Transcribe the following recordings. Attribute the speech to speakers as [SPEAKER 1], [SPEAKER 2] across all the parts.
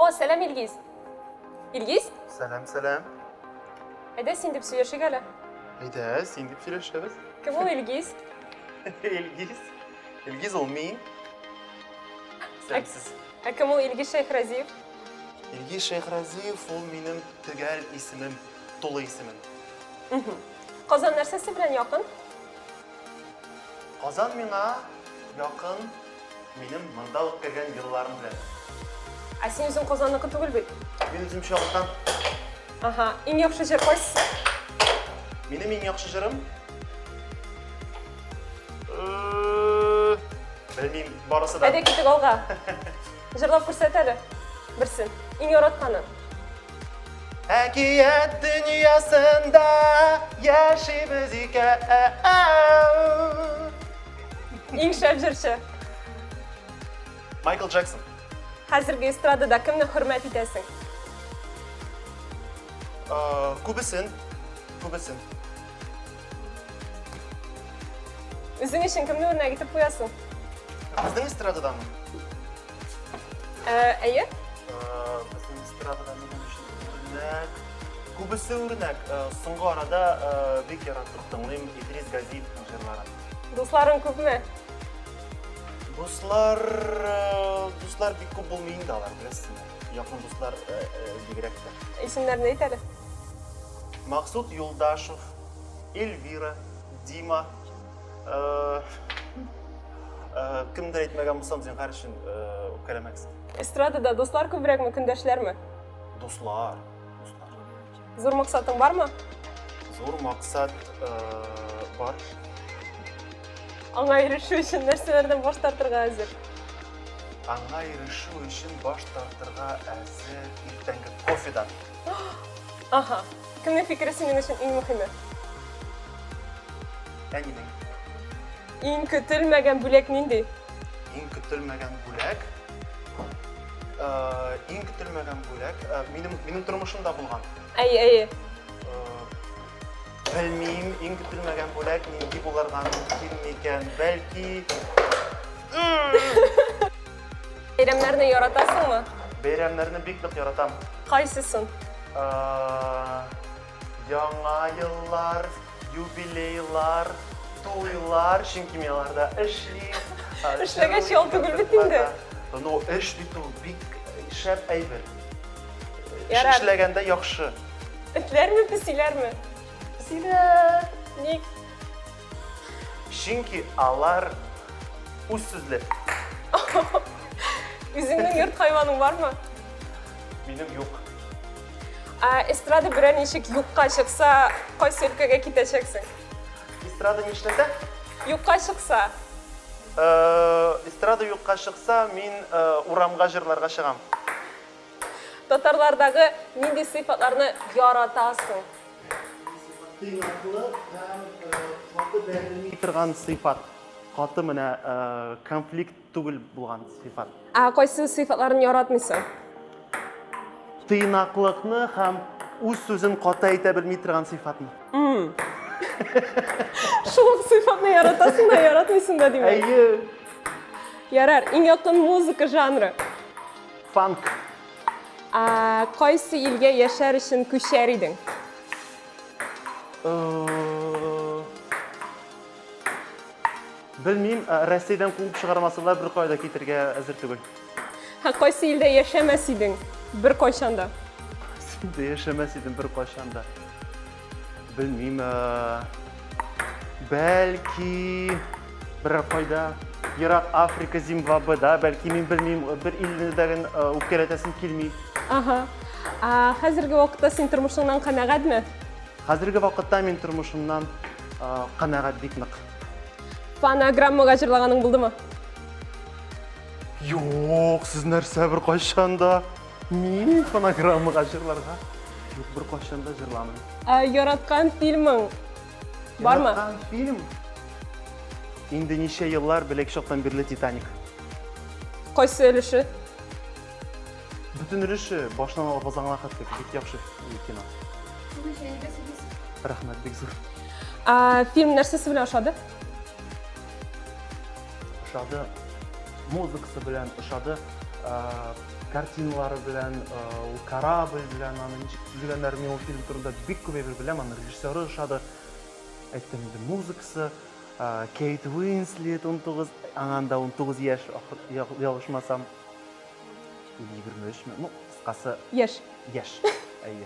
[SPEAKER 1] О, сәлам, Илгиз. Илгиз? Сәлам, сәлам. Әйдә син дип сөйләшик әле. Әйдә, син
[SPEAKER 2] дип сөйләшәбез. Кем ул Илгиз?
[SPEAKER 1] Илгиз.
[SPEAKER 2] Илгиз ул мин. Сәмсез. Ә кем ул Илгиз
[SPEAKER 1] Шәйхразиев? Илгиз
[SPEAKER 2] Шәйхразиев ул минем төгәл исемем, тулы исемем.
[SPEAKER 1] Казан нәрсәсе белән якын?
[SPEAKER 2] Казан миңа якын, минем монда үткәргән елларым белән. Ә син
[SPEAKER 1] үзең Казанныкы түгел бит? Мин үзем Чаллыдан.
[SPEAKER 2] Ага,
[SPEAKER 1] иң яхшы җыр кайсысы?
[SPEAKER 2] Минем иң яхшы җырым? Белмим, барысы да. Әйдә китик алга.
[SPEAKER 1] Җырлап күрсәт әле берсен. Иң яратканы. Әкият
[SPEAKER 2] дөньясында яшибез икән.
[SPEAKER 1] Иң шәп җырчы.
[SPEAKER 2] Майкл Джексон. Хәзерге
[SPEAKER 1] эстрадада кемне хөрмәт итәсең?
[SPEAKER 2] Күбесен, күбесен.
[SPEAKER 1] Үзең өчен кемне үрнәк итеп куясың? Безнең
[SPEAKER 2] эстрададанмы? Ә,
[SPEAKER 1] әйе? Безнең
[SPEAKER 2] эстрадада минем өчен үрнәк. Күбесе үрнәк. Соңгы арада бик яратып тыңлыйм Идрис Газиевның җырларын. Дусларың күпме?
[SPEAKER 1] Дуслар,
[SPEAKER 2] дуслар бик күп булмый инде алар, беләсезме? Якын дуслар бигрәк тә. Исемнәрен әйт әле. Максут Юлдашев, Эльвира, Дима, Кемдер әйтмәгән булсам, зинһар өчен үпкәләмәгез. Эстрадада
[SPEAKER 1] дуслар күбрәкме, көндәшләрме? Дуслар.
[SPEAKER 2] Дуслар.
[SPEAKER 1] Зур максатың бармы? Зур
[SPEAKER 2] максат бар.
[SPEAKER 1] Аңа ирешү өчен нәрсәләрдән баш тартырга әзер?
[SPEAKER 2] Аңа ирешү өчен баш тартырга әзер иртәнге кофедан.
[SPEAKER 1] Аха. Кемнең фикере синең өчен иң мөхиме?
[SPEAKER 2] Әнинең.
[SPEAKER 1] Иң көтелмәгән бүләк нинди? Иң
[SPEAKER 2] көтелмәгән бүләк. Э, иң көтелмәгән бүләк э, минем минем тормышымда булган. Әйе, әйе. Э, белмим, иң көтелмәгән бүләк нинди булырга мөмкин микән? Бәлки
[SPEAKER 1] Бәйрәмнәрне яратасыңмы? Бәйрәмнәрне бик нык
[SPEAKER 2] яратам. Кайсысын? Яңа еллар, юбилейлар, туйлар, чөнки мин аларда эшли. Эшләгәч
[SPEAKER 1] ял түгел бит инде. Ну, эш
[SPEAKER 2] бит ул бик шәп әйбер.
[SPEAKER 1] Эшләгәндә яхшы.
[SPEAKER 2] Этләрме,
[SPEAKER 1] песиләрме? Песиләр.
[SPEAKER 2] Ник?
[SPEAKER 1] Чөнки
[SPEAKER 2] алар үз сүзле.
[SPEAKER 1] Үзеңнең йорт хайваның бармы? Минем
[SPEAKER 2] юк. Ә
[SPEAKER 1] эстрада берәр ничек юкка чыкса, кайсы өлкәгә китәчәксең? Эстрада
[SPEAKER 2] нишләсә? Юкка чыкса.
[SPEAKER 1] Э,
[SPEAKER 2] эстрада юкка чыкса, мин э, урамга җырларга чыгам. Татарлардагы
[SPEAKER 1] нинди сыйфатларны яратасың?
[SPEAKER 2] Тыйнаклык һәм каты бәрелми торган сыйфат. Каты менә конфликт түгел булган сыйфат. Ә кайсы сыйфатларын
[SPEAKER 1] яратмыйсың?
[SPEAKER 2] Тыйнаклыкны һәм үз сүзен каты әйтә белми торган сыйфатны.
[SPEAKER 1] Шул ук сыйфатны яратасың да, яратмыйсың да димәк. Әйе.
[SPEAKER 2] Ярар,
[SPEAKER 1] иң якын музыка жанры. Фанк.
[SPEAKER 2] Ә,
[SPEAKER 1] кайсы илгә яшәр өчен күчәр идең?
[SPEAKER 2] Белмим, Россиядән куып чыгармасалар бер кайда китергә әзер түгел. Һә кайсы
[SPEAKER 1] илдә яшәмәс идең бер кайчанда? Синдә
[SPEAKER 2] яшәмәс идем бер кайчанда. Белмим, бәлки, берәр кайда, ерак Африка, Зимбабведа, бәлки, мин белмим, бер илне дәген үпкәләтәсем килми. Ага. Хәзерге
[SPEAKER 1] вакытта син тормышыңнан канәгатьме? Хәзерге
[SPEAKER 2] вакытта мин тормышымнан канәгать бик нык. Фонограммага
[SPEAKER 1] җырлаганың булдымы?
[SPEAKER 2] Юк, сез нәрсә бер кайчан да? Мин фонограммага җырларга юк бер кашын да җырламый. Ә яраткан
[SPEAKER 1] фильмың бармы? Яраткан фильм?
[SPEAKER 2] Инде ничә еллар белек чактан бирле Титаник.
[SPEAKER 1] Кайсы өлеше?
[SPEAKER 2] Бүтін өлеше башынан алып азаңына хәтлек бик яхшы кино. Рәхмәт бик зур. Ә фильм
[SPEAKER 1] нәрсәсе белән ошады?
[SPEAKER 2] Ошады музыкасы белән ошады. картиналары белән, э, ул корабль белән аны ничек төзегәннәр, мин ул фильм турында бик күп әйбер беләм, аны режиссеры ошады. Әйттем инде, музыкасы, э, Кейт Уинслет 19, аңа анда 19 яшь, ахыр- ял- ялгышмасам. Или 23 ме? Ну, кыскасы, Яшь. яшь. Әйе.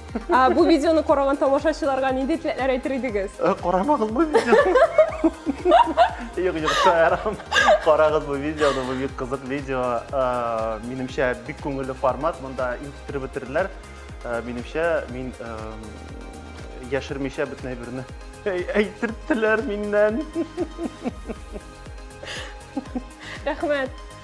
[SPEAKER 2] Ә бу видеоны
[SPEAKER 1] караган тамашачыларга нинди теләкләр әйтер идегез? Э, Карамагыз бу
[SPEAKER 2] видеоны. Юк, юк, шаярам. Карагыз бу видеоны, бу бик кызык видео. Э, Минемчә, бик күңелле формат, монда интектереп бетерделәр. Э, Минемчә, мин э, яшермичә бөтен әйберне әй- әйтерттеләр миннән. Рәхмәт.